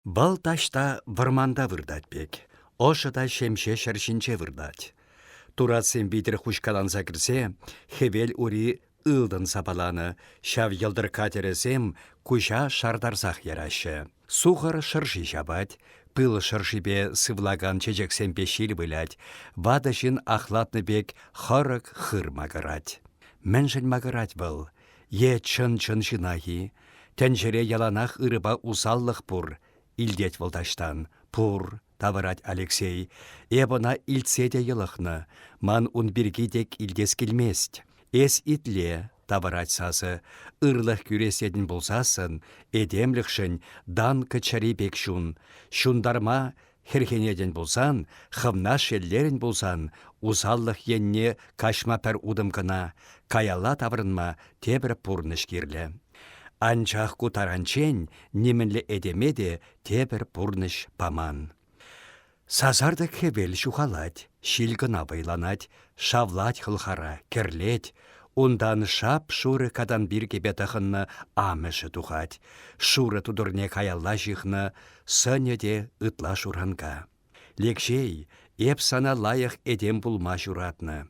Вӑл таҫта вӑрманта выртать пек, ӑшӑ та ҫемҫе ҫӗр ҫинче выртать. Туратсем витӗр хуҫкаланса кӗрсе хӗвел ури ылтӑн сапаланӑ, ҫав йӑлтӑркка тӗрӗсем куҫа шартарсах яраҫҫӗ. Сухӑр шӑрши ҫапать, пыл шӑршипе сывлакан чечексемпе ҫил вылять, ватӑ ҫын ахлатнӑ пек хӑрӑк хыр макӑрать. Мӗншӗн макӑрать вӑл? Е чӑн-чӑн ҫынах-и? Тӗнчере яланах ырӑпа усаллӑх пур, илтет вӑл таҫтан. Пур, тавӑрать Алексей. Эп ӑна илтсе те йӑлӑхнӑ. Ман ун пирки тек илтес килмест. Эс итле, тавӑрать сасӑ. Ырлӑх кӳресетӗн пулсассӑн, этемлӗхшӗн Данка чӗри пек чун. Ҫунтарма Хӗрхенетӗн пулсан, хӑвна шеллерӗн пулсан, усаллӑх енне каҫма пӗр утӑм кӑна, каялла таврӑнма тепӗр пурнӑҫ кирлӗ. Анчах ку таранччен нимӗнле этеме те тепӗр пурнӑҫ паман. Сасартӑк хӗвел ҫухалать, ҫил кӑна вӑйланать, шавлать хӑлхара, кӗрлет. Унтан шап-шурӑ катан пиркепе тӑхӑннӑ амӑшӗ тухать. Шурӑ тутӑрне каялла ҫыхнӑ Сӑнӗ те ытла шуранка. Лекҫей, эп сана лайӑх этем пулма ҫуратнӑ.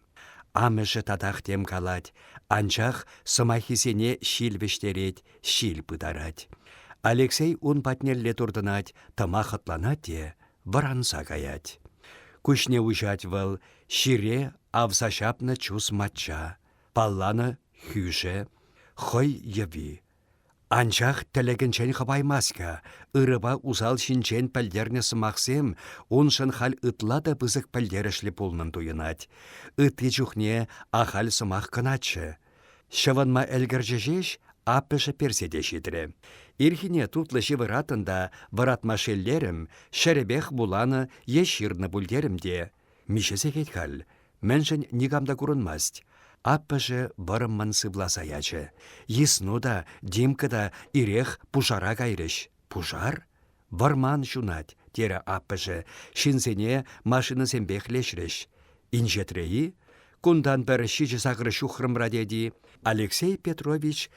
Амӑшӗ татах тем калать, анчах сӑмаххисене ҫил вӗҫтерет, ҫил пытарать. Алексей ун патнелле туртӑнать, тӑма хӑтланать те вӑранса каять. Куҫне уҫать вӑл ҫире авса ҫапнӑ чус мачча, палланӑ хӳшӗ, хӑй йӑви, Анчах тӗлӗкӗнчен хӑпаймасть-ха. Ырӑпа усал ҫинчен пӗлтернӗ сӑмахсем уншӑн халь ытла та пысӑк пӗлтерӗшлӗ пулнӑн туйӑнать. Ытти чухне ахаль сӑмах кӑначчӗ. Ҫӑвӑнма ӗлкӗрчӗ ҫеҫ, аппӑшӗ персе те ҫитрӗ. Ирхине тутлӑ ҫывӑраттӑн та вӑратма шеллерӗм, ҫӗрӗпех вуланӑ е ҫырнӑ пуль терӗм те, Миҫе сехет халь? Мӗншӗн никам та курӑнмасть? Аппӑшӗ вӑрӑммӑн сывласа ячӗ. Йысну та, Димка та ирех пушара кайрӗҫ. Пушар? Вӑрман ҫунать, терӗ аппӑшӗ. Ҫынсене машинӑсемпех леҫрӗҫ. Инҫетре-и? Кунтан пӗр ҫичӗ-сакӑр ҫухрӑмра тет-и? Алексей Петрович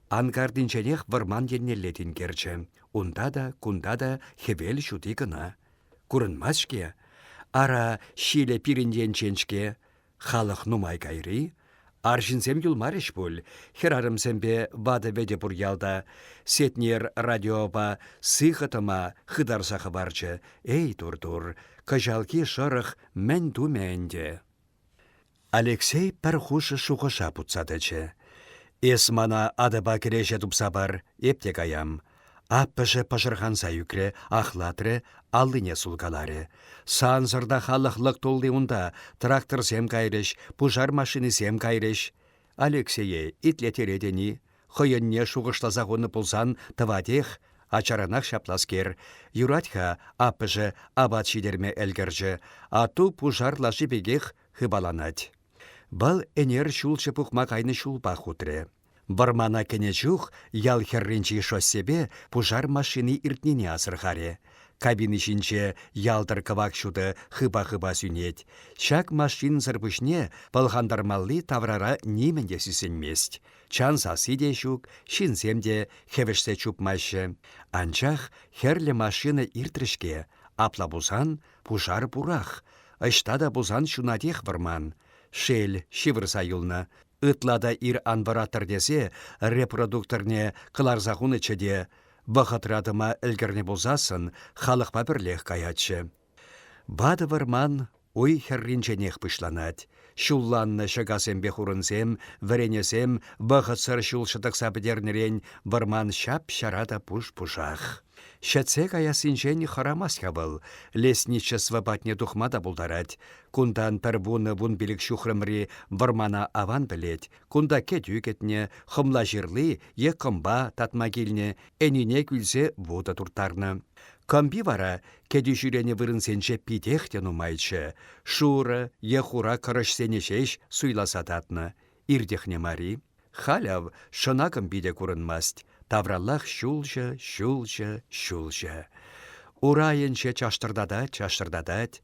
анкартинченех вӑрман еннелле тинкерчӗ. Унта та, кунта та хӗвел ҫути кӑна. Курӑнмать-ҫке. Ара, ҫилӗ пирӗн енчен-ҫке. Халӑх нумай кайри. Арҫынсем юлмарӗҫ пуль. Хӗрарӑмсемпе ватӑ-вӗтӗ пур ялта. Сетнер радиопа сыхӑ тӑма хытарса хӑварчӗ. Эй, тур-тур, кӑҫалхи шӑрӑх мӗн тумӗ ӗнтӗ? Алексей пӗр хушӑ шухӑша путса тӑчӗ. «Эс мана атӑпа кӗреҫе тупса пар, эп те каям». Аппӑшӗ пӑшӑрханса ӳкрӗ, ахлатрӗ, аллине сулкаларӗ. «Сансӑр та халӑх лӑк тулли унта, тракторсем кайрӗҫ, пушар машинисем кайрӗҫ. Алексее итлетеретӗн-и? Хӑйӗнне шухӑшласа хунӑ пулсан тӑватех. Ачаранах ҫапласкер. Юрать-ха, аппӑшӗ апат ҫитерме ӗлкӗрчӗ. Ату пушар лаши пекех хыпаланать. Вӑл ӗнер ҫулҫӑ пухма кайнӑ ҫулпах утрӗ. Вӑрмана кӗнӗ чух ял хӗрринчи шоссепе пушар машини иртнине асӑрхарӗ. Кабина ҫинче ялтӑр кӑвак ҫутӑ хыпа-хыпа сӳнет. Ҫак машинӑсӑр пуҫне пӑлхантармалли таврара нимӗн те сисӗнмест. Чан сасси те ҫук, ҫынсем те хӗвӗшсе чупмаҫҫӗ. Анчах хӗрлӗ машина иртрӗ-ҫке. Апла пулсан Пушар пурах, ӑҫта та пулсан ҫунатех вӑрман. Шел, ҫывӑрса юлнӑ. Ытла та ир ан вӑраттӑр тесе репродукторне кӑларса хунӑччӗ те, вӑхӑтра тӑма ӗлкӗрнӗ пулсассӑн, халӑхпа пӗрлех каятчӗ. Ватӑ вӑрман уй хӗрринченех пуҫланать. Ҫулланнӑ ҫӑкасемпе хурӑнсем, вӗренесем вӑхӑтсӑр ҫул ҫӑтӑкса пӗтернӗрен вӑрман ҫап-ҫара та пуш-пушах. Ҫӗтсе каяссинчен хӑрамасть-ха вӑл, лесничество патне тухма та пултарать. Кунтан пӗр вунӑ-вун пилӗк ҫухрӑмри вӑрмана аван пӗлет, кунта кӗтӳ кӗтнӗ, хӑмла ҫырли е кӑмпа татма килнӗ, ӗнине кӳлсе вутӑ турттарнӑ. Кӑмпи вара Кӗтӳ ҫӳренӗ вырӑнсенче питех те нумайччӗ, шурӑ е хура кӑрӑҫсене ҫеҫ суйласа татнӑ. Иртӗхнӗ мари. Халь ав шӑнакӑм питӗ курӑнмасть, тавраллах ҫулҫӑ, ҫулҫӑ, ҫулҫӑ. Урайӗнче чаштӑртатать-чаштӑртатать.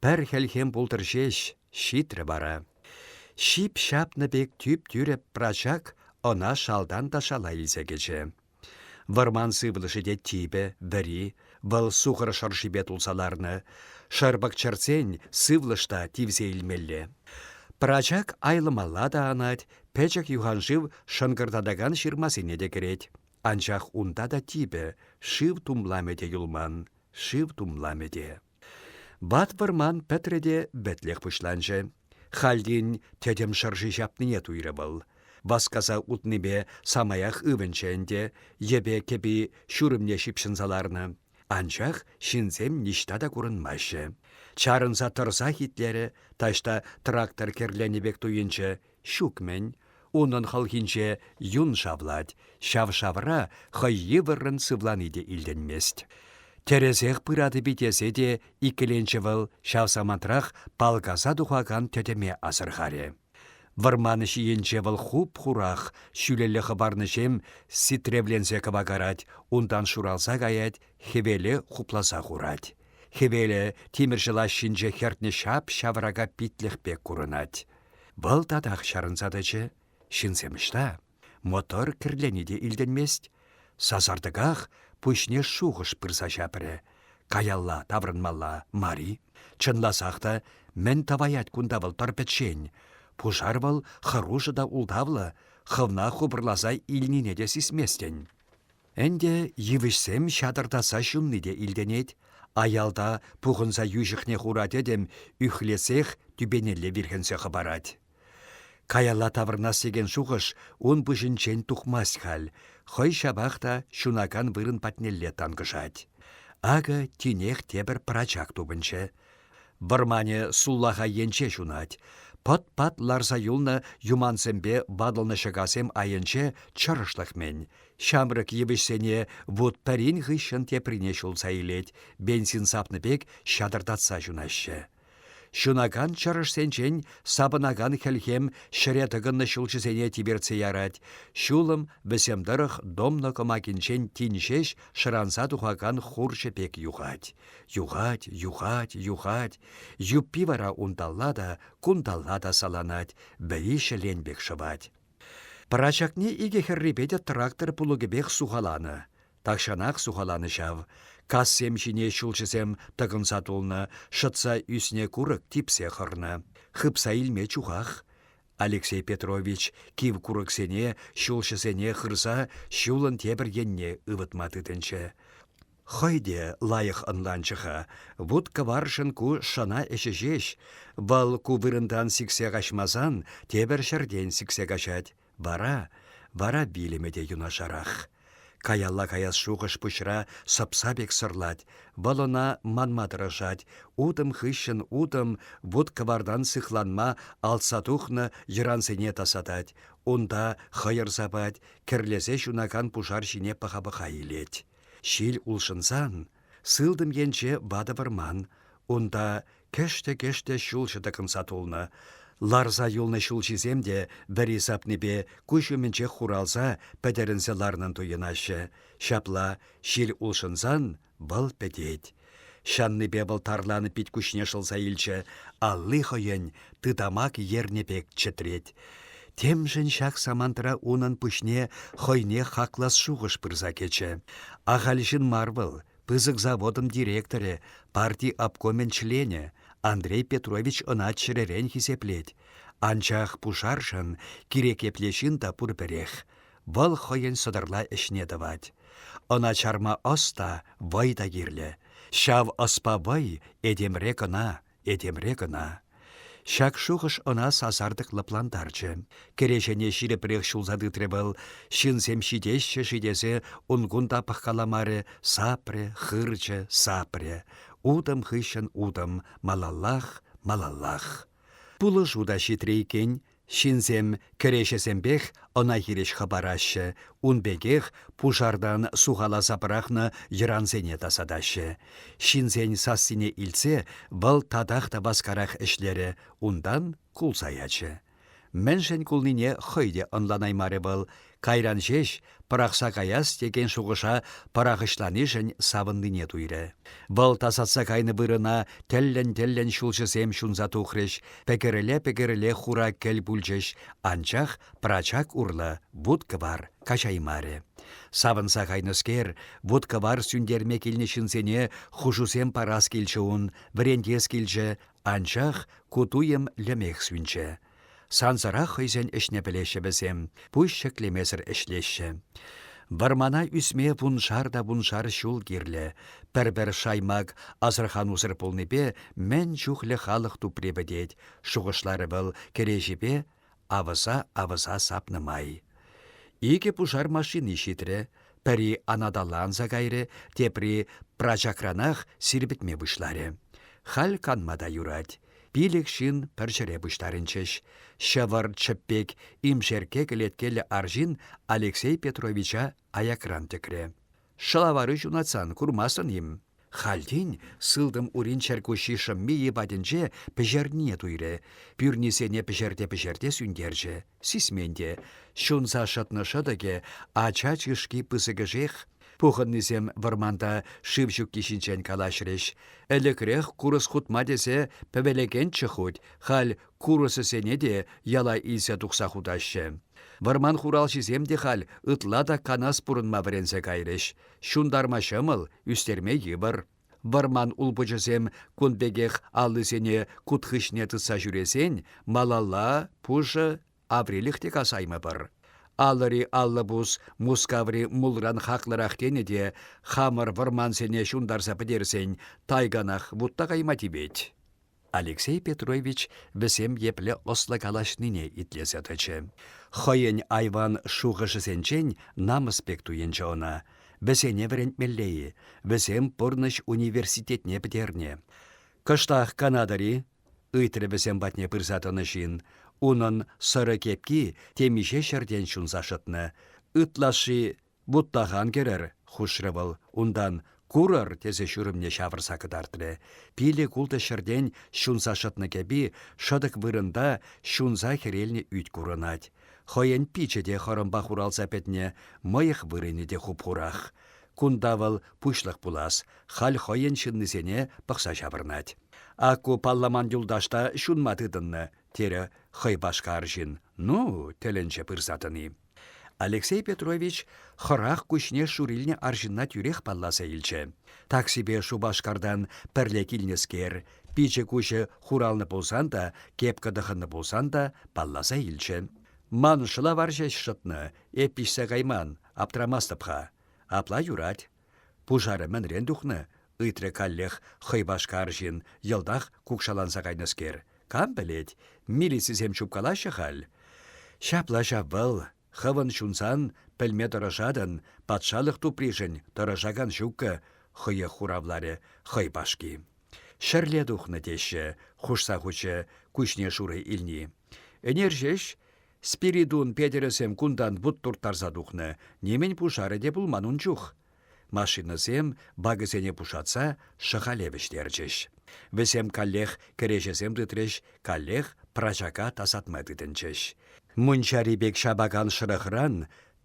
Пӗр хӗлхем пултӑр ҫеҫ, ҫитрӗ вара. Ҫип ҫапнӑ пек тӳп-тӳрӗ Прачак ӑна шалтан та шала илсе кӗчӗ. Вӑрман сывлӑшӗ те типӗ, вӗри, вӑл сухӑр шӑршипе тулса ларнӑ. Шӑрпӑк чӗртсен сывлӑш та тивсе илмелле. Пӑрачак айлӑмалла та анать, пӗчӗк юханшыв шӑнкӑртатакан ҫырмасене те кӗрет. Анчах унта та типӗ, шыв тумламӗ те юлман, шыв тумламӗ те. Ват вӑрман пӗтрӗ те вӗтлӗх пуҫланчӗ. Халлин тӗтӗм шӑрши ҫапнине туйрӗ вӑл. Васкаса утнипе самаях ывӑнчӗ ӗнтӗ, йӗпе кӗпи ҫурӑмне ҫыпҫӑнса ларнӑ. Анчах ҫынсем ниҫта та курӑнмаҫҫӗ. Чарӑнса тӑрсах итлерӗ, таҫта трактор кӗрленӗ пек туйӑнчӗ, ҫук-мӗн. Унӑн хӑлхинче юн шавлать, ҫав шавра хӑй йывӑррӑн сывлани те илтӗнмест. Тӗрӗсех пыратӑп-и тесе те иккӗленчӗ вӑл, ҫав самантрах палкаса тухакан тӗтӗме асӑрхарӗ. Вӑрман ҫийӗнче вӑл хуп-хурах, ҫӳлелле хӑпарнӑҫем ситревленсе кӑвакарать, унтан шуралса каять, хӗвеле хупласа хурать. Хӗвелӗ тимӗрҫӗ лаҫҫинче хӗртнӗ ҫап-ҫаврака питлӗх пек курӑнать. Вӑл татах чарӑнса тӑчӗ. Ҫынсем ӑҫта? Мотор кӗрлени те илтӗнмест. Сасартӑках пуҫне шухӑш пырса ҫапрӗ. Каялла таврӑнмалла мар-и? Чӑнласах та, мӗн тӑваять кунта вӑл пӗр пӗччен? Пушар вӑл хӑрушӑ та ултавлӑ, хӑвна хупӑрласа илнине те сисместӗн. Ӗнтӗ йывӑҫсем ҫатӑртатса ҫунни те илтӗнет. Аялта пухӑнса йӳҫӗхне хура тӗтӗм ӳхлесех тӳпенелле вирхӗнсе хӑпарать. Каялла таврӑнас текен шухӑш ун пуҫӗнчен тухмасть халь, хӑй ҫапах та ҫунакан вырӑн патнелле танкӑшать. Акӑ тинех тепӗр пӑрачак тупӑнчӗ. Вӑрманӗ суллаха енче ҫунать. Пӑт-пат ларса юлнӑ юмансемпе ватӑлнӑ ҫӑкасем айӗнче чӑрӑшлӑх-мӗн. Ҫамрӑк йывӑҫсене вут пӗрин хыҫҫӑн теприне ҫулса илет, бензин сапнӑ пек ҫатӑртатса ҫунаҫҫӗ. Ҫунакан чӑрӑшсенчен сапӑнакан хӗлхем ҫӗре тӑкӑннӑ ҫулҫӑсене тивертсе ярать. Ҫулӑм вӗсем тӑрӑх домна кӑмакинчен тин ҫеҫ шӑранса тухакан хурҫӑ пек юхать. Юхать, юхать, юхать. Юппи вара унталла та, кунталла та саланать, вӗри ҫӗлен пек шӑвать. Пӑрачакне икӗ хӗррипе те трактор пулӑкӗпех сухаланӑ. Тахҫанах сухаланӑ ҫав. Кассем ҫине ҫулҫӑсем тӑкӑнса тулнӑ, шӑтса ӳснӗ курӑк типсе хӑрнӑ. Хыпса илме чухах. Алексей Петрович кив курӑксене ҫулҫӑсене хырса ҫулӑн тепӗр енне ывӑтма тытӑнчӗ. Хӑй те лайӑх ӑнланчӗ-ха, вут-кӑваршӑн ку шӑна ӗҫӗ ҫеҫ, вӑл ку вырӑнтан сиксе каҫмасан тепӗр ҫӗртен сиксе каҫать, вара, вара вилӗмӗ те юнашарах. Каялла каяс шухӑш пуҫра сӑпса пек сӑрлать, вӑл ӑна манма тӑрӑшать, утӑм хыҫҫӑн утӑм вут-кӑвартан сыхланма алтса тухнӑ йӑрансене тасатать, унта хӑйӑр сапать, кӗрлесе ҫунакан пушар ҫине пӑха-пӑха илет. Ҫил улшӑнсан, сылтӑм енче ватӑ вӑрман, унта кӗштӗ-кӗштӗ ҫулҫӑ тӑкӑнса тулнӑ. Ларса юлнӑ ҫулҫисем те вӗри сапнипе куҫ умӗнчех хуралса пӗтӗрӗнсе ларнӑн туйӑнаҫҫӗ. Ҫапла, ҫил улшӑнсан вӑл пӗтет, Ҫаннипе вӑл тарланӑ пит-куҫне шӑлса илчӗ, алли хӑйӗн тытамак ернӗ пек чӗтрет. Темшӗн ҫак самантра унӑн пуҫне хӑйне хаклас шухӑш пырса кӗчӗ. Ахаль ҫын мар вӑл, пысӑк заводӑн директорӗ, парти обкомӗн членӗ. Андрей Петрович ӑна чӗререн хисеплет. Анчах пушаршӑн кирек епле ҫын та пур пӗрех. Вӑл хӑйӗн сӑтӑрла ӗҫне тӑвать. Ӑна чарма ӑс та, вӑй та кирлӗ. Ҫав ӑспа вӑй этемре кӑна, этемре кӑна. Ҫак шухӑш ӑна сасартӑк лӑплантарчӗ. Кӗреҫене ҫирӗпрех ҫулса тытрӗ вӑл. Ҫынсем ҫитеҫҫӗ-ши тесе ун-кун та пӑхкаламарӗ, сапрӗ, хырчӗ, сапрӗ. Утӑм хыҫҫӑн утӑм, малаллах, малаллах. Пулӑшу та ҫитрӗ иккен. Ҫынсем кӗреҫесемпех ӑна хирӗҫ хӑпараҫҫӗ, ун пекех пушартан сухаласа пӑрахнӑ йӑрансене тасатаҫҫӗ. Ҫынсен сассине илтсе вӑл татах та васкарах ӗҫлерӗ, унтан кулса ячӗ. Мӗншӗн кулнине хӑй те ӑнланаймарӗ вӑл, Кайран ҫеҫ пӑрахса каяс текен шухӑша пӑрахӑҫланишӗн савӑннине туйрӗ. Вӑл тасатса кайнӑ вырӑна тӗллӗн-тӗллӗн ҫулҫӑсем ҫунса тухрӗҫ, пӗкӗрӗле-пӗкӗрӗле хура кӗл пулчӗҫ, анчах прачак урлӑ вут-кӑвар каҫаймарӗ. Савӑнса кайнӑскер, вут-кӑвар сӳнтерме килнӗ ҫынсене хушусем парас килчӗ ун, вӗрентес килчӗ, анчах ку туйӑм лӗмех сӳнчӗ. Сансӑрах хӑйсен ӗҫне пӗлеҫҫӗ вӗсем, пуҫ ҫӗклемесӗр ӗҫлеҫҫӗ. Вӑрмана ӳсме вуншар та вуншар ҫул кирлӗ. Пӗр-пӗр шаймак асӑрханусӑр пулнипе мӗн чухлӗ халӑх тупри пӗтет, шухӑшларӗ вӑл кӗреҫепе авӑса-авӑса сапнӑ май. Икӗ пушар машини ҫитрӗ, пӗри анаталанса кайрӗ, тепри прачакранах сирпӗтме пуҫларӗ. Халь канма та юрать. Пилӗк ҫын пӗр ҫӗре пуҫтарӑнчӗҫ. Ҫӑвӑр чӗппек имшерке кӗлеткеллӗ арҫын Алексей Петровича аякран тӗкрӗ. «Шӑлавару ҫунатсан курмастӑн-им?» Хальтен сылтӑм урин чӗркуҫҫи шӑмми йӑпатӗнче пӗҫернине туйрӗ, пӳрнисене пӗҫерте-пӗҫерте сӳнтерчӗ. Сисмен те, ҫунса шӑтнӑ шӑтӑкӗ ача чышки пысӑкӗшех. Пухӑннисем вӑрманта шыв ҫукки ҫинчен калаҫрӗҫ. Ӗлӗкрех курӑс хутма тесе пӗвелекенччӗ хуть, халь курӑсӗсене те яла илсе тухса хутаҫҫӗ. Вӑрман хуралҫисем те халь ытла та канас пурӑнма вӗренсе кайрӗҫ. Ҫунтарма ҫӑмӑл, ӳстерме йывӑр. Вӑрман улпучӗсем кун пекех аллисене кут хыҫне тытса ҫӳресен малалла пушӑ аврилӗх те касаймӑпӑр. Алӑри аллӑпус Мускаври мулран хаклӑрах тенӗ те хамӑр вӑрмансене ҫунтарса пӗтерсен тайганах вутта кайма тивет. Алексей Петрович вӗсем епле ӑслӑ калаҫнине итлесе тӑчӗ. Хӑйӗн айван шухӑшӗсенчен намӑс пек туйӑнчӗ ӑна. Вӗсене вӗрентмелле-и? Вӗсем пурнӑҫ университетне пӗтернӗ. Кӑштах канатӑр-и? ыйтрӗ вӗсем патне пырса тӑнӑ ҫын. Унӑн сӑрӑ кепки темиҫе ҫӗртен ҫунса шӑтнӑ. Ытлашши Вуттахан кӗрӗр, хушрӗ вӑл, унтан «Курӑр!» тесе ҫурӑмне ҫавӑрса кӑтартрӗ. Пилӗк-ултӑ ҫӗртен ҫунса шӑтнӑ кӗпи шӑтӑк вырӑнта ҫунса хӗрелнӗ ӳт курӑнать. Хӑйӗн пичӗ те хӑрӑмпа хуралса пӗтнӗ, мӑйӑх вырӑнӗ те хуп-хурах. Кунта вӑл пуҫлӑх пулас, халь хӑйӗн ҫыннисене пӑхса ҫаврӑнать. «Ак ку палламан юлташ та ҫунма тытӑннӑ», — терӗ хӑй пашка арҫын. «Ну?» — тӗлӗнчӗ пырса тӑни. Алексей Петрович хӑрах куҫне шурилнӗ арҫынна тӳрех палласа илчӗ. Таксипе Шупашкартан пӗрле килнӗскер, пичӗ-куҫӗ хуралнӑ пулсан та, кепка тӑхӑннӑ пулсан та палласа илчӗ. «Ман шӑлавар ҫеҫ шӑтнӑ, эп пиҫсе кайман, аптрамастӑп-ха. Апла юрать. Пушарӗ мӗнрен тухнӑ? ыйтрӗ каллех хӑйпашка арҫын, йӑлтах кукшаланса кайнӑскер. Кам пӗлет, милицисем чупкалаҫҫӗ халь. Ҫапла ҫав вӑл, хӑвӑн ҫунсан пӗлме тӑрӑшатӑн, патшалӑх тупришӗн тӑрӑшакан ҫуккӑ, хӑех хуравларӗ хӑйпашки. Ҫӗрле тухнӑ теҫҫӗ, хушса хучӗ куҫне шурӑ илни. Ӗнер ҫеҫ Спиридун Петӗрӗсем кунтан вут турттарса тухнӑ, нимӗн пушарӗ те пулман ун чух. Машинӑсем, бакӑсене пушатса, шӑхале вӗҫтерчӗҫ. Вӗсем каллех кӗреҫесем тытрӗҫ, каллех прачака тасатма тытӑнчӗҫ. Мунчари пек ҫапакан шӑрӑхран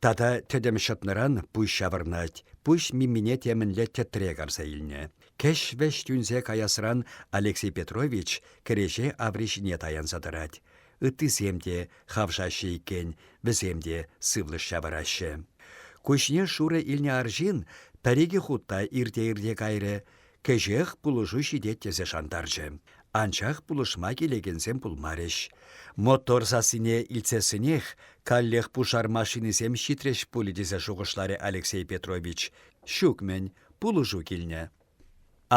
тата тӗтӗм ҫӑтнӑран пуҫ ҫавӑрнать, пуҫ мимине темӗнле тӗтре карса илнӗ. Кӗҫ-вӗҫ тӳнсе каясран Алексей Петрович кӗреҫе аври ҫине таянса тӑрать. Ыттисем те хавшаҫҫӗ иккен, вӗсем те сывлӑш ҫавӑраҫҫӗ. Куҫне шурӑ илнӗ арҫын пӗр-икӗ хутта ирте-ирте кайрӗ, кӗҫех пулӑшу ҫитет тесе шантарчӗ. Анчах пулӑшма килекенсем пулмарӗҫ. Мотор сассине илтсессӗнех каллех пушар машинисем ҫитрӗҫ пулӗ тесе шухӑшларӗ Алексей Петрович. Ҫук-мӗн, пулӑшу килнӗ.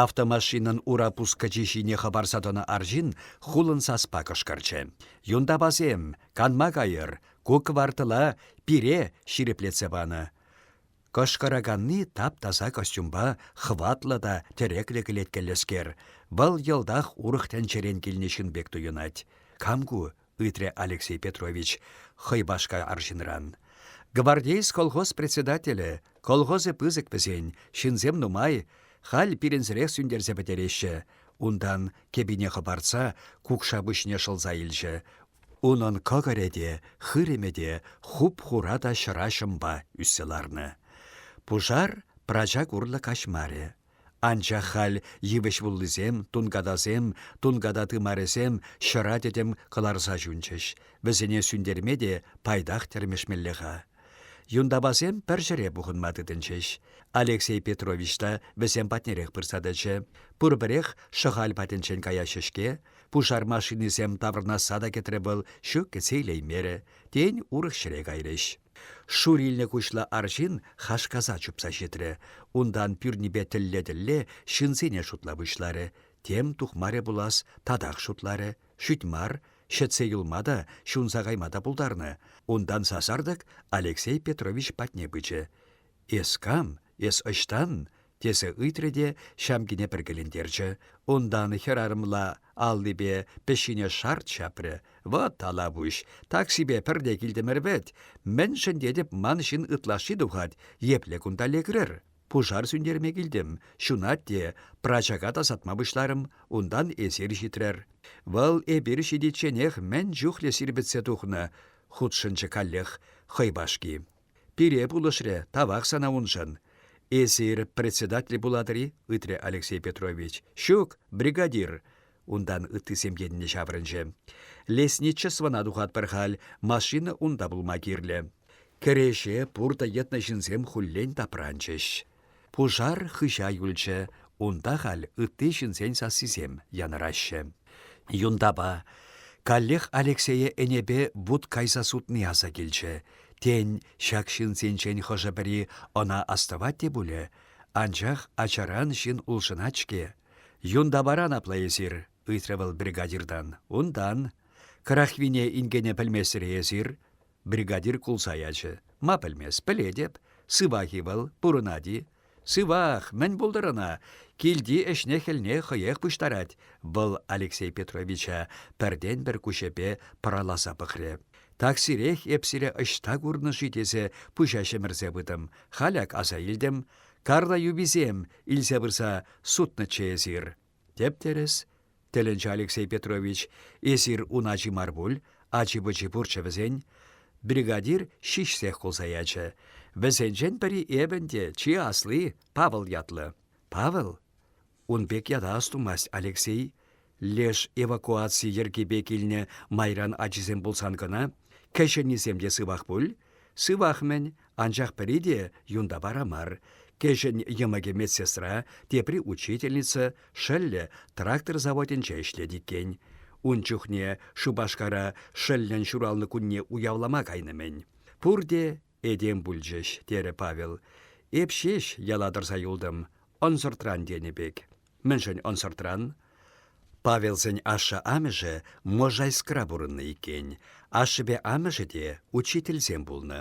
Автомашинӑн ура пускӑчи ҫине хӑпарса тӑнӑ арҫын хулӑн саспа кӑшкӑрчӗ. «Юнтапасем, канма кайӑр! Ку квартала пире ҫирӗплетсе панӑ!» Кӑшкӑраканни тап-таса костюмпа хӑватлӑ та тӗреклӗ кӗлеткеллӗскер. Вӑл йӑлтах урӑх тӗнчерен килнӗ ҫын пек туйӑнать. «Кам ку? ыйтрӗ Алексей Петрович хӑй башка арҫынран. Гвардейс колхоз председателӗ, колхозӗ пысӑк вӗсен, ҫынсем нумай, халь пирӗнсӗрех сӳнтерсе пӗтереҫҫӗ. Унтан, кӗпине хӑпартса, кукша пуҫне шӑлса илчӗ. Унӑн кӑкӑрӗ те, хырӑмӗ те, хуп-хура та ҫӑра ҫӑмпа ӳссе ларнӑ. Пушар прачак урлӑ каҫмарӗ. Анчах халь йывӑҫ вуллисем, тункатасем, тунката тымарӗсем ҫӑра тӗтӗм кӑларса ҫунчӗҫ. Вӗсене сӳнтерме те пайтах тӗрмешмелле-ха. Юнтапасем пӗр ҫӗре пухӑнма тытӑнчӗҫ. Алексей Петрович та вӗсем патнерех пырса тӑчӗ. Пурпӗрех Шӑхаль патӗнчен каяҫҫӗ-ҫке. Пушар машинисем таврӑнасса та кӗтрӗ вӑл, ҫук кӗтсе илеймерӗ. Тен, урӑх ҫӗре кайрӗҫ. Шур илнӗ куҫлӑ арҫын хашкаса чупса ҫитрӗ. Унтан пӳрнипе тӗлле-тӗлле ҫынсене шутла пуҫларӗ. Тем тухмарӗ пулас, татах шутларӗ. Шӳт мар, ҫӗтсе юлма та, ҫунса кайма та пултарнӑ. Унтан сасартӑк Алексей Петрович патне пычӗ. «Эс кам? Эс ӑҫтан?» тесе ыйтрӗ те ҫамкине пӗркелентерчӗ, унтан хӗрарӑмла аллипе пӗҫҫине шарт ҫапрӗ. «Вот Талавуҫ, таксипе пӗрре килтӗмӗр вӗт. Мӗншӗн тетӗп, ман ҫын ытлашши тухать, епле кунта лекрӗр? Пушар сӳнтерме килтӗм, ҫунать те, прачака тасатма пуҫларӑм, унтан эсир ҫитрӗр. Вӑл эпир ҫитичченех мӗн чухлӗ сирпӗтсе тухнӑ, хутшӑнчӗ каллех хӑйпашки. Пире пулӑшрӗ, тавах сана уншӑн. Эсир председатель пулатӑр-и? ыйтрӗ Алексей Петрович. Ҫук, бригадир. Унтан ыттисем енне ҫаврӑнчӗ. Лесничествӑна тухатпӑр халь, машина унта пулма кирлӗ. Кӗреҫе пуртӑ йӑтнӑ ҫынсем хуллен тапранчӗҫ. Пушар хыҫа юлчӗ, унта халь ытти ҫынсен сассисем янӑраҫҫӗ. Юнтапа, каллех Алексее ӗнепе вут кайса сутни аса килчӗ. Тен, ҫак ҫынсенчен хӑшӗ-пӗри ӑна астӑвать те пулӗ? Анчах ачаран ҫын улшӑнать-ҫке. «Юнтапаран апла эсир?» — ыйтрӗ вӑл бригадиртан. «Унтан. Крахвине инкене пӗлместӗр-и эсир?» Бригадир кулса ячӗ. «Ма пӗлмест, пӗлетӗп. Сывах-и вӑл, пурӑнать-и? Сывах, мӗн пултӑр ӑна? Килти ӗҫне-хӗлне хӑех пуҫтарать. Вӑл Алексей Петровича пӗртен-пӗр куҫӗпе пӑраласа пӑхрӗ. «Таксирех эп сире ӑҫта курнӑ-ши?» тесе пуҫа ҫӗмӗрсе пытӑм. Халь ак аса илтӗм. Карла юписем илсе пырса сутнӑччӗ эсир. Тӗп-тӗрӗс, тӗлӗнчӗ Алексей Петрович, эсир ун ачи мар пуль, ачи-пӑчи пурччӗ вӗсен. Бригадир ҫиҫсех кулса ячӗ. Вӗсенчен пӗри эпӗн те, чи асли, Павел ятлӑ. Павел? Ун пек ята астумасть Алексей. Леш эвакуаци йӗркипе килнӗ майран ачисем пулсан кӑна. Кӗҫӗннисем те сывах пуль? Сывах-мӗн, Анчах пӗри те юнта вара мар. Кӗҫӗн йӑмӑкӗ медсестра, тепри учительница, шӑллӗ трактор заводӗнче ӗҫлет иккен. Ун чухне Шупашкара шӑллӗн ҫуралнӑ кунне уявлама кайнӑ-мӗн. Пурте этем пулчӗҫ, терӗ Павел. Эп ҫеҫ яла тӑрса юлтӑм, ӑнсӑртран тенӗ пек. Мӗншӗн ӑнсӑртран? Павелсен ашшӗ-амӑшӗ Можайскра пурӑннӑ иккен. Ашшӗпе амӑшӗ те учительсем пулнӑ.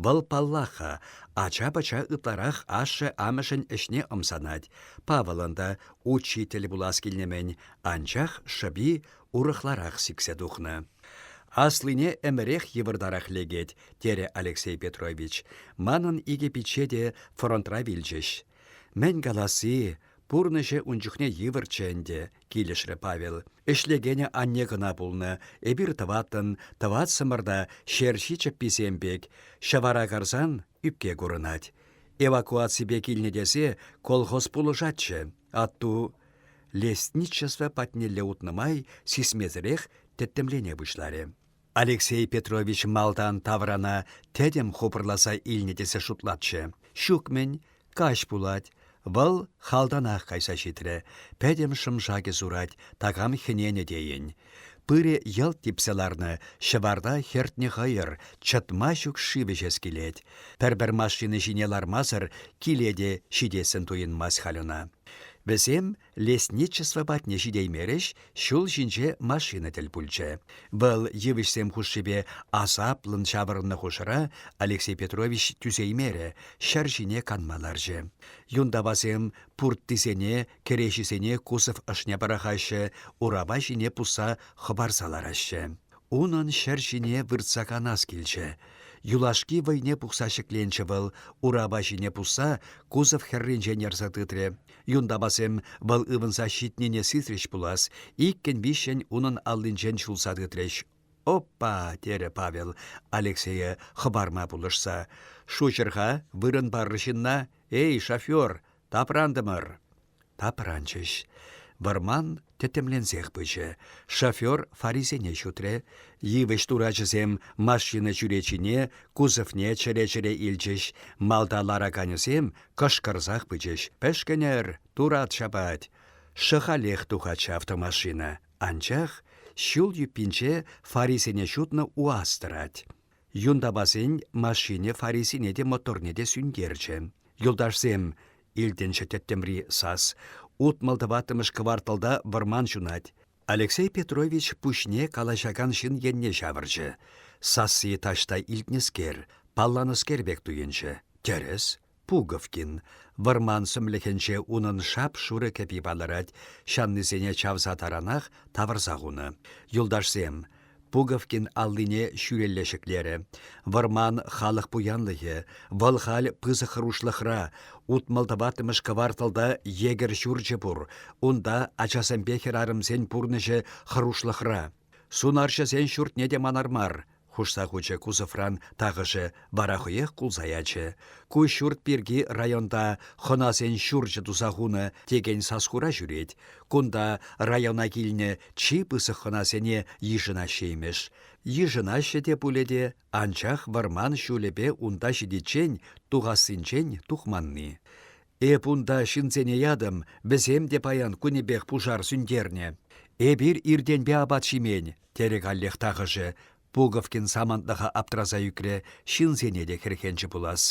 Вӑл, паллах-ха, ача-пӑча ытларах ашшӗ-амӑшӗн ӗҫне ӑмсанать. Павӑлӑн та учитель пулас килнӗ-мӗн, анчах шӑпи урӑхларах сиксе тухнӑ. «Аслине ӗмӗрех йывӑртарах лекет», – терӗ Алексей Петрович. «Манӑн икӗ пичче те фронтра вилчӗҫ. Мӗн каласси, пурнӑҫӗ ун чухне йывӑрччӗ ӗнтӗ, килӗшрӗ Павел. Ӗҫлекенӗ анне кӑна пулнӑ, эпир тӑваттӑн, тӑватсӑмӑр та ҫерҫи чӗпписем пек, ҫӑвара карсан ӳпке курӑнать. Эвакуаципе килнӗ тесе колхоз пулӑшатчӗ. Атту лесничество патнелле утнӑ май сисмесӗрех тӗттӗмлене пуҫларӗ. Алексей Петрович малтан таврана тӗтӗм хупӑрласа илнӗ тесе шутлатчӗ. Ҫук-мӗн, каҫ пулать. Вӑл халтанах кайса ҫитрӗ. Пӗтӗм шӑм-шакӗ сурать, такам хӗненӗ тейӗн. Пырӗ йӑлт типсе ларнӑ, ҫӑварта хӗртнӗ хӑйӑр, чӑтма ҫук шыв ӗҫес килет. Пӗр-пӗр машина ҫине лармасӑр киле те ҫитессӗн туйӑнмасть халь ӑна. Вӗсем лесничество патне ҫитеймерӗҫ, ҫул ҫинче машина тӗл пулчӗ. Вӑл йывӑҫсем хушшипе асаплӑн ҫаврӑннӑ хушӑра Алексей Петрович тӳсеймерӗ, ҫӗр ҫине канма ларчӗ. Юнтавасем пурттисене, кӗреҫисене кусов ӑшне пӑрахаҫҫӗ, урапа ҫине пусса хӑпарса лараҫҫӗ. Унӑн ҫӗр ҫине выртса канас килчӗ. Юлашки вӑйне пухса ҫӗкленчӗ вӑл, урапа ҫине пусса кусов хӗрринчен ярса тытрӗ. Юнтапасем вӑл ывӑнса ҫитнине сисрӗҫ пулас, иккӗн-виҫҫӗн унӑн аллинчен ҫулса тытрӗҫ. «Опа!» терӗ Павел Алексее хӑпарма пулӑшса. «Шуҫӑр-ха, вырӑн пар ҫынна! Эй, шофер, тапрантӑмӑр!» Тапранчӗҫ. Вӑрман тӗтӗмленсех пычӗ. Шофер фарисене ҫутрӗ. Йывӑҫ турачӗсем машина чӳречине, кузовне чӗре-чӗре илчӗҫ. Малта лараканӗсем кӑшкӑрсах пычӗҫ. «Пӗшкӗнӗр! Турат ҫапать!» Шӑхалех тухать ҫав автомашина. Анчах ҫул юппинче фарисене ҫутнӑ УАЗ тӑрать. Юнтапасен машини фарисене те моторне те сӳнтерчӗ. Юлташсем, илтӗнчӗ тӗттӗмри сас, утмӑл тӑваттӑмӗш кварталта вӑрман ҫунать. Алексей Петрович пуҫне калаҫакан ҫын енне ҫавӑрчӗ. Сасси таҫта илтнӗскер, палланӑскер пек туйӑнчӗ. Тӗрӗс. Пуговкин. Вӑрман сӗмлӗхӗнче унӑн шап-шурӑ кӗпи палӑрать, ҫаннисене чавса таранах тавӑрса хунӑ. Юлташсем, Пуговкин аллине ҫӳлелле ҫӗклерӗ. Вӑрман халӑх пуянлӑхӗ, вӑл халь пысӑк хӑрушлӑхра, утмӑл тӑваттӑмӗш кварталта егерь ҫурчӗ пур, унта ачасемпе хӗрарӑмсен пурнӑҫӗ хӑрушлӑхра. Сунарҫӑсен ҫуртне те манар мар, хушса хучӗ кузовран тахӑшӗ, вара хӑех кулса ячӗ. Ку ҫурт пирки районта хӑнасен ҫурчӗ туса хунӑ текен саскура ҫӳрет. Кунта района килнӗ чи пысӑк хӑнасене йышӑнаҫҫӗ имӗш. Йышӑнаҫҫӗ те пулӗ те, анчах вӑрман ҫулӗпе унта ҫитиччен тухассинчен тухманни. Эп унта ҫынсене ятӑм, вӗсем те паян кунӗпех пушар сӳнтернӗ. Эпир иртенпе апат ҫимен, Терӗ каллех тахӑшӗ. Пуговкин самантлӑха аптраса ӳкрӗ, ҫынсене те хӗрхенчӗ пулас.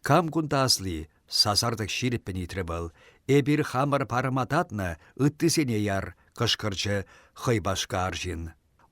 «Кам кунта асли?» — сасартӑк ҫирӗппӗн ыйтрӗ вӑл. «Эпир хамӑр парӑма татнӑ, ыттисене яр!» — кӑшкӑрчӗ хӑй башка арҫын.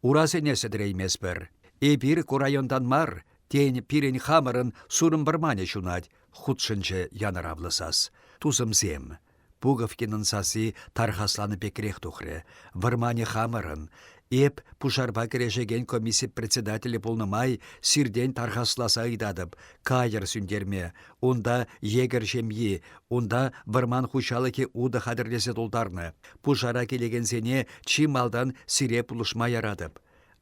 «Урасене сӗтӗрейместпӗр. Эпир ку районтан мар, тен, пирӗн хамӑрӑн сурӑм вӑрманӗ ҫунать», — хутшӑнчӗ янӑравлӑ сас. «Тусӑмсем, Пуговкинӑн сасси тархасланӑ пекрех тухрӗ. Вӑрманӗ хамӑрӑн. Эп пушарпа кӗрешекен комисси председателӗ пулнӑ май сиртен тархасласа ыйтатӑп. Кайӑр сӳнтерме. Унта егерь ҫемйи, унта вӑрман хуҫалӑхӗ утӑ хатӗрлесе тултарнӑ. Пушара килекенсене чи малтан сире пулӑшма яратӑп.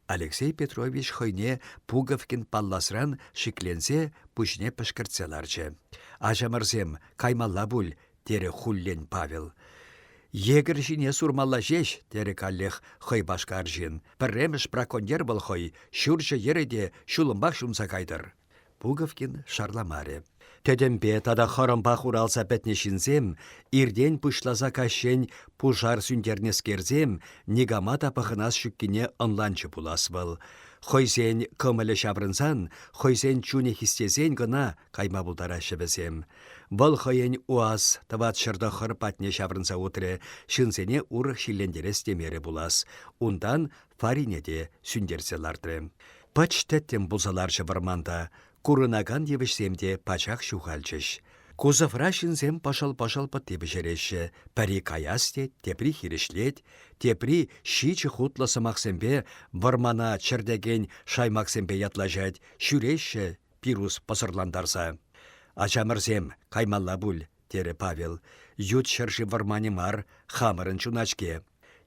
Алексей Петрович хӑйне Пуговкин палласран шикленсе пуҫне пӗшкӗртсе ларчӗ. «Ачамӑрсем, каймалла пуль», — терӗ хуллен Павел. «Егерь ҫине сурмалла ҫеҫ», — терӗ каллех хӑй башка арҫын. «Пӗрремӗш браконьер вӑл хӑй, ҫурҫӗ йӗрӗ те ҫулӑмпах ҫунса кайтӑр». Пуговкин шарламарӗ. Тӗтӗмпе тата хӑрӑмпа хуралса пӗтнӗ ҫынсем, иртен пуҫласа каҫчен пушар сӳнтернӗскерсем, никама та пӑхӑнас ҫуккине ӑнланчӗ пулас вӑл. Хӑйсен кӑмӑлӗ ҫаврӑнсан, хӑйсен чунӗ хистесен кӑна кайма пултараҫҫӗ вӗсем. Вӑл хӑйӗн УАЗ тӑват ҫӗр тӑххӑр патне ҫаврӑнса утрӗ, ҫынсене урӑх ҫиллентерес темерӗ пулас. Унтан Фарине те сӳнтерсе лартрӗ. Пӑч тӗттӗм пулса ларчӗ вӑрманта. Курӑнакан йывӑҫсем те пачах ҫухалчӗҫ. Кузовра ҫынсем пӑшӑл-пӑшӑл пӑтти пӗҫереҫҫӗ. Пӗри каяс тет, тепри хирӗҫлет, тепри ҫичӗ хутлӑ сӑмахсемпе вӑрмана чӗртекен шаймаксемпе ятлаҫать, ҫӳреҫҫӗ пирус пӑсӑрлантарса. «Ачамӑрсем, каймалла пуль, терӗ Павел. Ют ҫӗршыв вӑрманӗ мар, хамӑрӑн чуна-ҫке.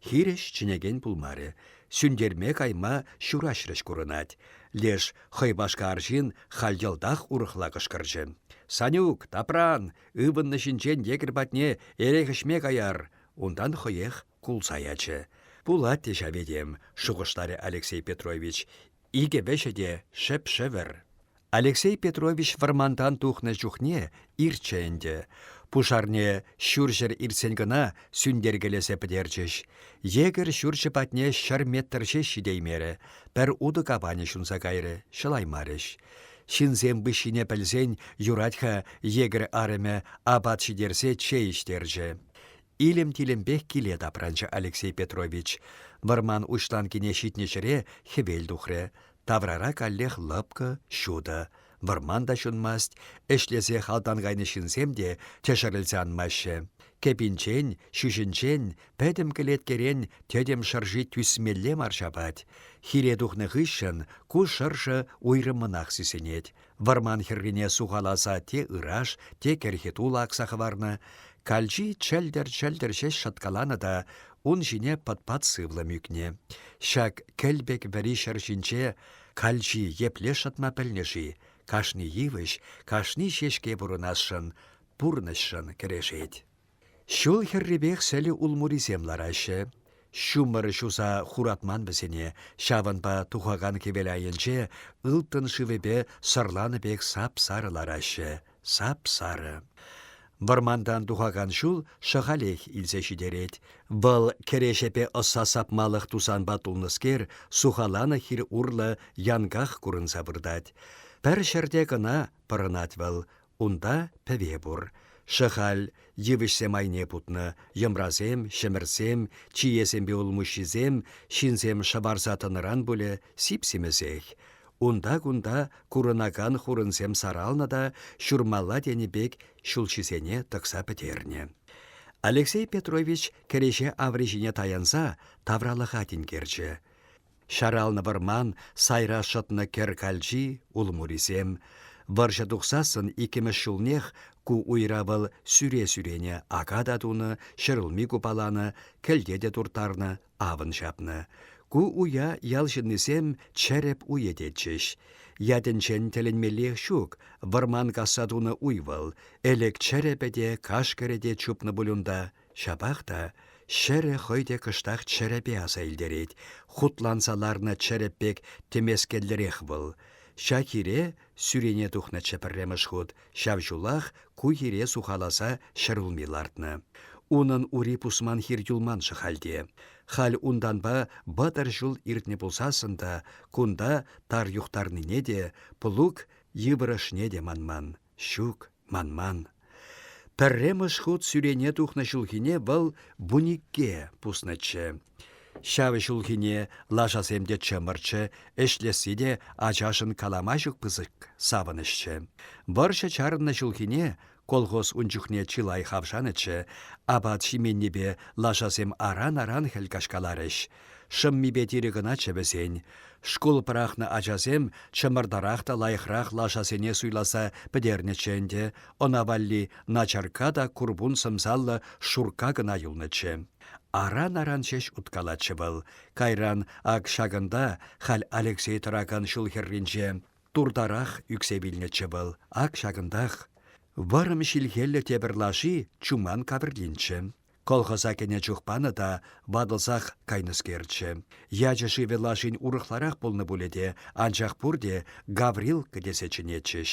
Хирӗҫ чӗнекен пулмарӗ. Сӳнтерме кайма ҫураҫрӗҫ курӑнать. Леш хӑй башка арҫын халь йӑлтах урӑхла кӑшкӑрчӗ. «Санюк, тапран! Ывӑннӑ ҫинчен егерь патне эрех ӗҫме каяр!» Унтан хӑех кулса ячӗ. «Пулать те ҫав этем», — шухӑшларӗ Алексей Петрович. «Икӗ вӗҫӗ те шӗп-шӗвӗр». Алексей Петрович вӑрмантан тухнӑ чухне ирччӗ ӗнтӗ. Пушарне ҫурҫӗр иртсен кӑна сӳнтеркелесе пӗтерчӗҫ. Йӗкӗр ҫурчӗ патне ҫӗр метр ҫеҫ ҫитеймерӗ. Пӗр утӑ капанӗ ҫунса кайрӗ, ҫӑлаймарӗҫ. Ҫынсем выҫҫине пӗлсен юрать-ха йӗкӗр арӑмӗ апат ҫитерсе чей ӗҫтерчӗ. илӗм-тилӗмпех киле тапранчӗ Алексей Петрович. Вӑрман уҫланкине ҫитнӗ ҫӗре хӗвел тухрӗ. Таврара каллех лӑпкӑ, ҫутӑ. Вӑрман та ҫунмасть, ӗҫлесе халтан кайнӑ ҫынсем те тӗшӗрӗлсе анмаҫҫӗ. Кӗпинчен, ҫӳҫӗнчен, пӗтӗм кӗлеткерен тӗтӗм шӑрши тӳсмелле мар ҫапать. Хире тухнӑ хыҫҫӑн ку шӑршӑ уйрӑммӑнах сисӗнет. Вӑрман хӗррине сухаласа те ыраш, те кӗрхи тулӑ акса хӑварнӑ. Калчи чӗлтӗр-чӗлтӗр ҫеҫ шӑткаланӑ та ун ҫине пӑт-пат сывлӑм ӳкнӗ. Ҫак кӗлпек вӗри ҫӗр ҫинче калчи епле шӑтма пӗлнӗ-ши? Кашни йывӑҫ, кашни ҫеҫке пурӑнасшӑн, пурнӑҫшӑн кӗрешет. Ҫул хӗррипех сӗлӗ улмурисем лараҫҫӗ. Ҫумӑр ҫуса хуратман вӗсене, ҫавӑнпа тухакан хӗвел айӗнче ылтӑн шывӗпе сӑрланӑ пек сап-сарӑ лараҫҫӗ, сап-сарӑ. Вӑрмантан тухакан ҫул шӑхалех илсе ҫитерет. Вӑл кӗрешепе ӑсса сапмалӑх тусанпа тулнӑскер, сухаланӑ хир урлӑ янках курӑнса выртать. Пӗр ҫӗрте кӑна пӑрӑнать вӑл. Унта пӗве пур. Шӑхаль, йывӑҫсем айне путнӑ, йӑмрасем, ҫӗмӗрсем, чиесемпе улмуҫҫисем, ҫынсем шӑварса тӑнӑран пулӗ, сип-симӗсех. Унта-кунта курӑнакан хурӑнсем саралнӑ та ҫурмалла тенӗ пек ҫулҫисене тӑкса пӗтернӗ. Алексей Петрович кӗреҫе аври ҫине таянса тавралӑха тинкерчӗ. Ҫаралнӑ вӑрман, сайра шӑтнӑ кӗр калчи, улмурисем. Вӑрҫӑ тухсассӑн иккӗмӗш ҫулнех ку уйра вӑл сӳре-сӳрене ака та тунӑ, ҫӗрулми купаланӑ, кӗлте те турттарнӑ, авӑн ҫапнӑ. Ку уя ял ҫыннисем чӗрӗп уйӗ тетчӗҫ. Ятӗнчен тӗлӗнмеллех ҫук, вӑрман касса тунӑ уй вӑл. Ӗлӗк чӗрӗпӗ те, кашкӑрӗ те чупнӑ пуль унта. Ҫапах та ҫӗрӗ хӑй те кӑштах чӗрӗпе аса илтерет. Хутланса ларнӑ чӗрӗп пек тӗмескеллӗрех вӑл. Ҫак хире сӳрене тухнӑччӗ пӗрремӗш хут, ҫав ҫулах ку хире сухаласа ҫӗр улми лартнӑ. Унӑн ури пусман хир юлман-ши хальте? Халь унтанпа вӑтӑр ҫул иртнӗ пулсассӑн та кунта тар юхтарнине те, плуг йывӑрӑшне те манман. Ҫук, манман. Пӗрремӗш хут сӳрене тухнӑ ҫулхине вӑл вуникке пуснӑччӗ. Ҫав ҫулхине лашасем те чӑмӑрччӗ, ӗҫлесси те ачашӑн калама ҫук пысӑк савӑнӑҫчӗ. Вӑрҫӑ чарӑннӑ ҫулхине колхоз ун чухне чылай хавшанӑччӗ, апат ҫименнипе лашасем аран-аран хӗл каҫкаларӗҫ. Шӑммипе тирӗ кӑначчӗ вӗсен. Шкул пӑрахнӑ ачасем чӑмӑртарах та лайӑхрах лашасене суйласа пӗтернӗччӗ ӗнтӗ, ӑна валли начарка та курпун сӑмсаллӑ шурка кӑна юлнӑччӗ. Аран-аран ҫеҫ уткалатчӗ вӑл. Кайран ак ҫакӑнта, халь Алексей тӑракан ҫул хӗрринче, туртарах ӳксе вилнӗччӗ вӑл. Ак ҫакӑнтах. Вӑрӑм ҫилхеллӗ тепӗр лаши Чуман кавӗртинччӗ. Колхоза кӗнӗ чух панӑ та ватӑлсах кайнӑскерччӗ. Ячӗ-шывӗ лашин урӑхларах пулнӑ пулӗ те, анчах пурте Гаврилка тесе чӗнетчӗҫ.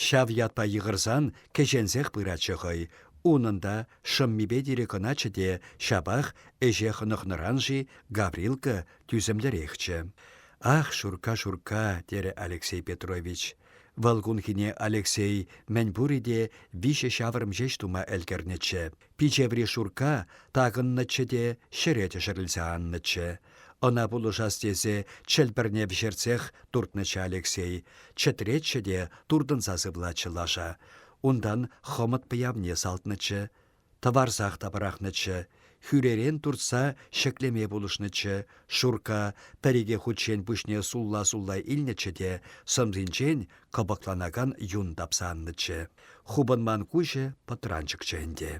Ҫав ятпа йыхӑрсан кӗҫенсех пыратчӗ хӑй. Унӑн та шӑммипе тирӗ кӑначчӗ те ҫапах ӗҫе хӑнӑхнӑран-ши Гаврилка тӳсӗмлӗрехчӗ. «Ах, Шурка, Шурка!» терӗ Алексей Петрович. Вӑл кунхине Алексей мӗн пурӗ те виҫӗ ҫаврӑм ҫеҫ тума ӗлкӗрнӗччӗ. Пичеври шурка такӑннӑччӗ те ҫӗре тӗшӗрӗлсе аннӑччӗ. Ӑна пулӑшас тесе чӗлпӗрне вӗҫертсех туртнӑччӗ Алексей. Чӗтретчӗ те туртӑнса сывлатчӗ лаша. Унтан хӑмӑт пӑявне салтнӑччӗ. Тӑварсах та пӑрахнӑччӗ. Хӳререн туртса ҫӗклеме пулӑшнӑччӗ. Шурка пӗр-икӗ хутчен пуҫне сулла-сулла илнӗччӗ те сӑмсинчен кӑпӑкланакан юн тапса аннӑччӗ. Хупӑнман куҫӗ пӑтранчӑкчӗ ӗнтӗ.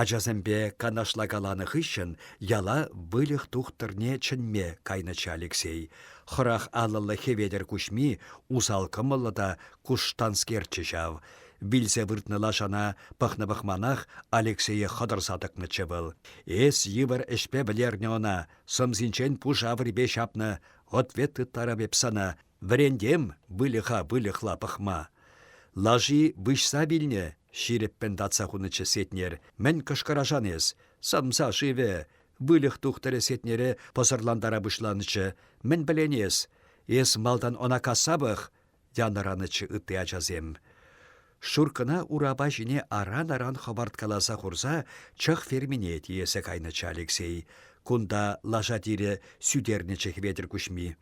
Ачасемпе канашлакаланӑ хыҫҫӑн яла выльӑх тухтӑрне чӗнме кайнӑччӗ Алексей. Хӑрах аллӑллӑ Хӗветӗр Куҫми усал кӑмӑллӑ та куштанскерччӗ ҫав. Вилсе выртнӑ лашана пӑхнӑ-пӑхманах Алексее хӑтӑрса тӑкнӑччӗ вӑл. «Эс йывӑр ӗҫпе вӗлернӗ ӑна, сӑмсинчен пуша вырипе ҫапнӑ, ответ тыттарам эп сана, Вӗрентем выльӑха выльӑхла пӑхма. Лаши выҫса вилнӗ, ҫирӗппӗн татса хунӑччӗ Сетнер. Мӗн кӑшкӑрашан эс? Сӑмса шывӗ, выльӑх тухтӑрӗ Сетнере пӑсӑрлантара пуҫланӑччӗ. Мӗн пӗлен эс? Эс малтан ӑна касса пӑх, янӑранӑччӗ ытти ачасем. Шуркӑна урапа ҫине аран-аран хӑпарткаласа хурса чӑх фермине тиесе кайнӑччӗ Алексей. Кунта лаша тирӗ сӳтернӗччӗ Хветӗр куҫми.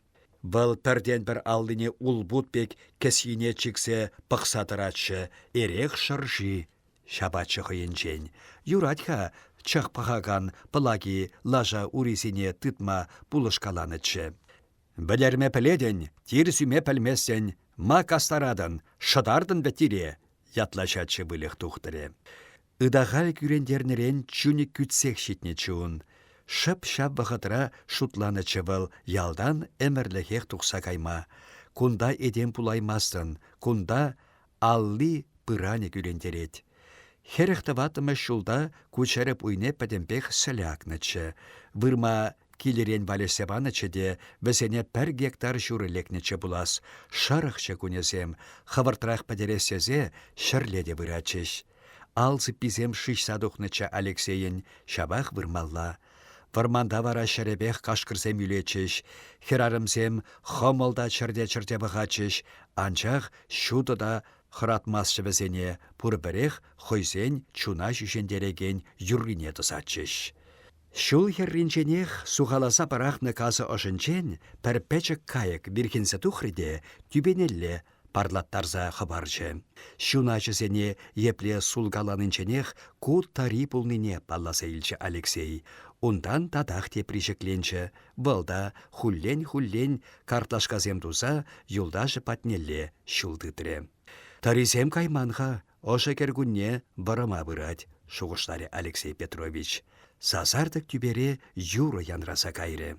Вӑл пӗртен-пӗр аллине улпут пек кӗсйине чиксе пӑхса тӑратчӗ, эрех шӑрши ҫапатчӗ хӑйӗнчен. Юрать-ха чӑх пӑхакан Пӑлаки лаша урисене тытма пулӑшкаланӑччӗ. «Вӗлерме пӗлетӗн, тир сӳме пӗлместӗн, ма кастаратӑн, шӑтартӑн вӗт тире!» ятлаҫатчӗ выльӑх тухтӑрӗ. Ытахаль кӳрентернӗрен чунӗ кӳтсех ҫитнӗччӗ ун. Шӑп ҫав вӑхӑтра шутланӑччӗ вӑл ялтан ӗмӗрлӗхех тухса кайма. Кунта этем пулаймастӑн, кунта алли пыранӗ кӳрентерет. Хӗрӗх тӑваттӑмӗш ҫулта ку чӗрӗп уйне пӗтӗмпех сӗлӗ акнӑччӗ. Вырма Килӗрен валеҫсе панӑччӗ те вӗсене пӗр гектар ҫурӑ лекнӗччӗ пулас. Шӑрӑхчӗ кунӗсем, хӑвӑртрах пӗтерес тесе ҫӗрле те выратчӗҫ. Ал сыпписем шыҫса тухнӑччӗ Алексейӗн, ҫапах вырмалла. Вӑрманта вара ҫӗрӗпех кашкӑрсем ӳлетчӗҫ, хӗрарӑмсем хӑмӑл та чӗрте-чӗрте пӑхатчӗҫ, анчах ҫутӑ та хӑратмастчӗ вӗсене, пурпӗрех хӑйсен чуна ҫӳҫентерекен юррине тӑсатчӗҫ. Ҫул хӗрринченех сухаласа пӑрахнӑ касӑ ӑшӗнчен пӗр пӗчӗк кайӑк вирхӗнсе тухрӗ те тӳпенелле парлаттарса хӑпарчӗ. Ҫуначӗсене епле сулкаланинченех ку тари пулнине палласа илчӗ Алексей. Унтан татах тепри ҫӗкленчӗ. Вӑл та хуллен-хуллен картлашкасем туса юлташӗ патнелле ҫул тытрӗ. «Тарисем кайман-ха», Ӑшӑ кӗркунне вӑрӑма пырать, шухӑшларӗ Алексей Петрович. Сасартӑк тӳпере юрӑ янраса кайрӗ.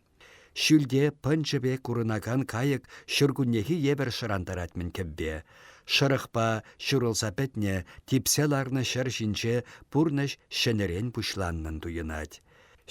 Ҫӳлте пӑнчӑ пек курӑнакан кайӑк ҫуркуннехи евӗр шӑрантарать-мӗн кӗвве. Шӑрӑхпа ҫурӑлса пӗтнӗ, типсе ларнӑ ҫӗр ҫинче пурнӑҫ ҫӗнӗрен пуҫланнӑн туйӑнать.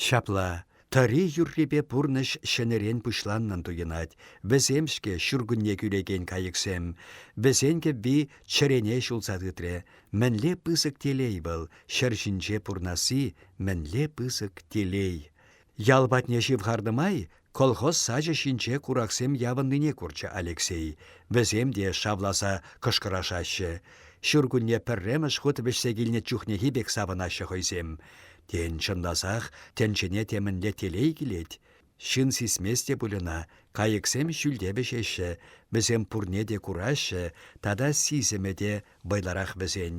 Ҫапла, Тӑри юррипе пурнӑҫ ҫӗнӗрен пуҫланнӑн туйӑнать. Вӗсем-ҫке ҫуркунне кӳлекен кайӑксем. Вӗсен кӗвви чӗрене ҫулса тытрӗ. Мӗнле пысӑк телей вӑл, ҫӗр ҫинче пурнасси мӗнле пысӑк телей! Ял патне ҫывхарнӑ май колхоз сачӗ ҫинче кураксем явӑннине курчӗ Алексей. Вӗсем те шавласа кӑшкӑрашаҫҫӗ. Ҫуркунне пӗрремӗш хут вӗҫсе килнӗ чухнехи пек савӑнаҫҫӗ хӑйсем. Тен, чӑнласах тӗнчене темӗнле телей килет? Ҫын сисмест те пуль ӑна, кайӑксем ҫӳлте вӗҫеҫҫӗ, вӗсем пурне те кураҫҫӗ, тата сисӗмӗ те вӑйлӑрах вӗсен.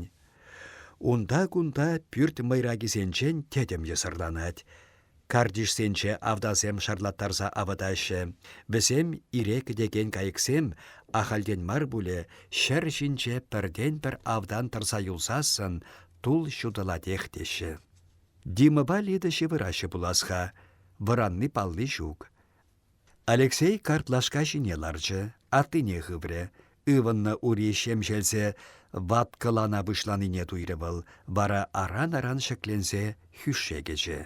Унта-кунта пӳрт мӑйракисенчен тӗтӗм йӑсӑрланать. Картишсенче автансем шарлаттарса авӑтаҫҫӗ. Вӗсем ире кӗтекен кайӑксем, ахальтен мар пулӗ, ҫӗр ҫинче пӗртен-пӗр автан тӑрса юлсассӑн Тул ҫутӑлатех теҫҫӗ. Димӑпа Лида ҫывӑраҫҫӗ пулас-ха, вӑранни-палли ҫук. Алексей картлашка ҫине ларчӗ, аттине хыврӗ. Ывӑннӑ ури ҫемҫелсе ваткӑлана пуҫланине туйрӗ вӑл, вара аран-аран ҫӗкленсе хӳшше кӗчӗ.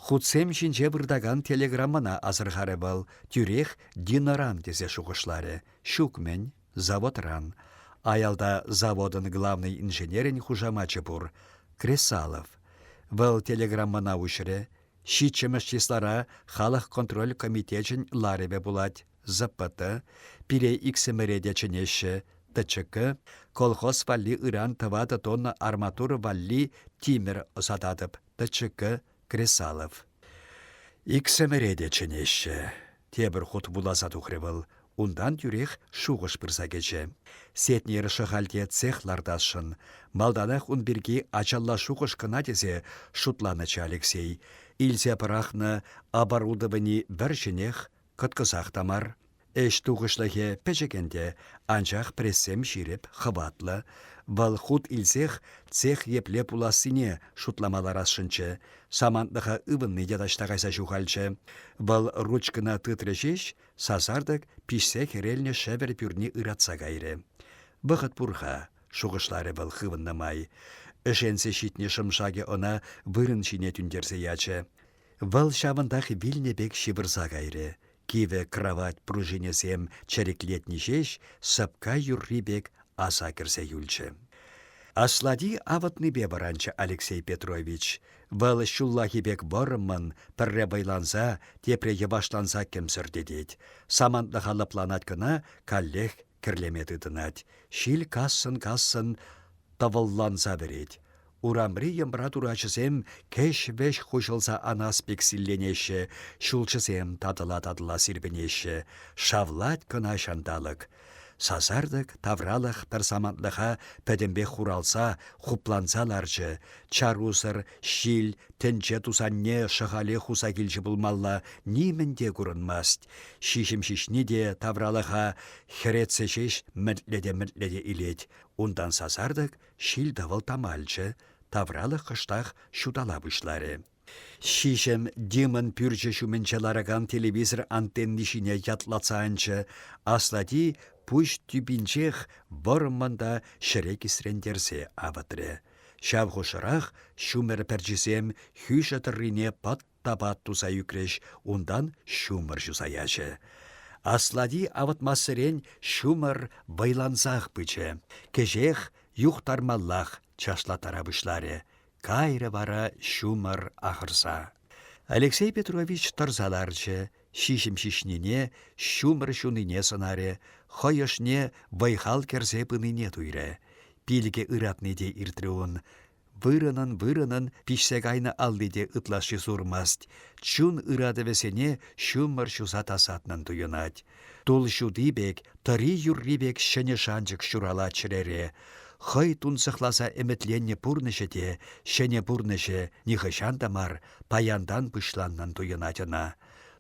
Хутсем ҫинче выртакан телеграммӑна асӑрхарӗ вӑл, тӳрех Динаран тесе шухӑшларӗ. Ҫук-мӗн. заводран. Аялта заводӑн главнӑй инженерӗн хушамачӗ пур – Кресалов. Вӑл телеграммӑна уҫрӗ. Ҫиччӗмӗш числара халӑх контроль комитечӗн ларӑвӗ пулать, ЗПТ, пире иксӗмӗре те чӗнеҫҫӗ, ТЧК, колхоз валли ыран тӑватӑ тонна арматура валли тимӗр ӑсататӑп, ТЧК, Кресалов. Иксӗмӗре те чӗнеҫҫӗ. Тепӗр хут вуласа тухрӗ вӑл. Унтан тӳрех шухӑш пырса кӗчӗ. Сетнер Шӑхальте цех лартасшӑн. Малтанах ун пирки ачалла шухӑш кӑна тесе шутланӑччӗ Алексей. Илсе пӑрахнӑ оборудовани вӗр-ҫӗнех Кӑткӑсах та мар. Ӗҫ тухӑҫлӑхӗ пӗчӗк ӗнтӗ, анчах прессем ҫирӗп, хӑватлӑ. Вӑл хут илсех цех епле пулассине шутлама ларасшӑнччӗ. Самантлӑха ывӑнни те таҫта кайса ҫухалчӗ. Вӑл ручкӑна тытрӗ ҫеҫ, сасартӑк пиҫсе хӗрелнӗ шӗвӗр пӳрни ыратса кайрӗ. «Вӑхӑт пур-ха», — шухӑшларӗ вӑл хывӑннӑ май. Ӗшенсе ҫитнӗ шӑм-шакӗ ӑна вырӑн ҫине тӳнтерсе ячӗ. Вӑл ҫавӑнтах вилнӗ пек ҫывӑрса кайрӗ. Кивӗ кравать пружинӗсем чӗриклетни ҫеҫ сӑпка юрри пек аса кӗрсе юлчӗ. Аслати авӑтнипе вӑранчӗ Алексей Петрович. Вӑл ҫуллахи пек вӑрӑммӑн, пӗрре вӑйланса, тепре йӑвашланса кӗмсӗртетет. Самантлӑха лӑпланать кӑна, каллех кӗрлеме тытӑнать, ҫил кассӑн-кассӑн тӑвӑлланса вӗрет. Урамри йӑмра турачӗсем кӗҫ-вӗҫ хуҫӑлса анас пек силленеҫҫӗ, ҫулҫӑсем татӑла-татӑла сирпӗнеҫҫӗ. Шавлать кӑна ҫанталӑк. Сасартӑк тавралӑх пӗр самантлӑха пӗтӗмпех хуралса, хупланса ларчӗ. Чарусӑр ҫил, тӗнче тусанне Шӑхале хуса килчӗ пулмалла, нимӗн те курӑнмасть. Ҫиҫӗм ҫиҫни те тавралӑха хӗретсе ҫеҫ мӗнтлете-мӗнтлете илет. Унтан сасартӑк ҫил-тӑвӑл тамалчӗ, тавралӑх кӑштах ҫутала пуҫларӗ. Ҫиҫӗм Димӑн пӳрчӗ ҫумӗнче ларакан телевизор антенни ҫине ятлатса анчӗ. Аслати пуҫ тӳпинчех вӑрман та ҫӗре кисрентерсе авӑтрӗ. Ҫав хушӑрах ҫумӑр пӗрчисем хӳшӗ тӑррине пӑт Тапат туса ӳкрӗҫ, унтан ҫумӑр ҫуса ячӗ. Аслати авӑтмассерен ҫумӑр вӑйлансах пычӗ. Кӗҫех юхтармаллах чашлаттара пуҫларӗ. Кайрӗ вара ҫумӑр ахӑрса. Алексей Петрович тӑрса ларчӗ, ҫиҫӗм ҫиҫнине, ҫумӑр ҫунине сӑнарӗ, хӑй ӑшне вӑй-хал кӗрсе пынине туйрӗ. Пилӗке ыратни те иртрӗ ун. Вырӑнӑн-вырӑнӑн пиҫсе кайнӑ алли те ытлашши сурмасть, чун ыратӑвӗсене ҫумӑр ҫуса тасатнӑн туйӑнать. Тул ҫути пек, тӑри юрри пек ҫӗнӗ шанчӑк ҫуралать чӗрере. Хӑй тунсӑхласа ӗмӗтленнӗ пурнӑҫӗ те, ҫӗнӗ пурнӑҫӗ нихӑҫан та мар паянтан пуҫланнӑн туйӑнать ӑна.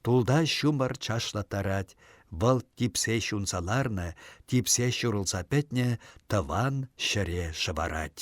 Тулта ҫумӑр чашлаттарать, вӑл типсе ҫунса ларнӑ, типсе ҫурӑлса пӗтнӗ тӑван ҫӗре шӑварать.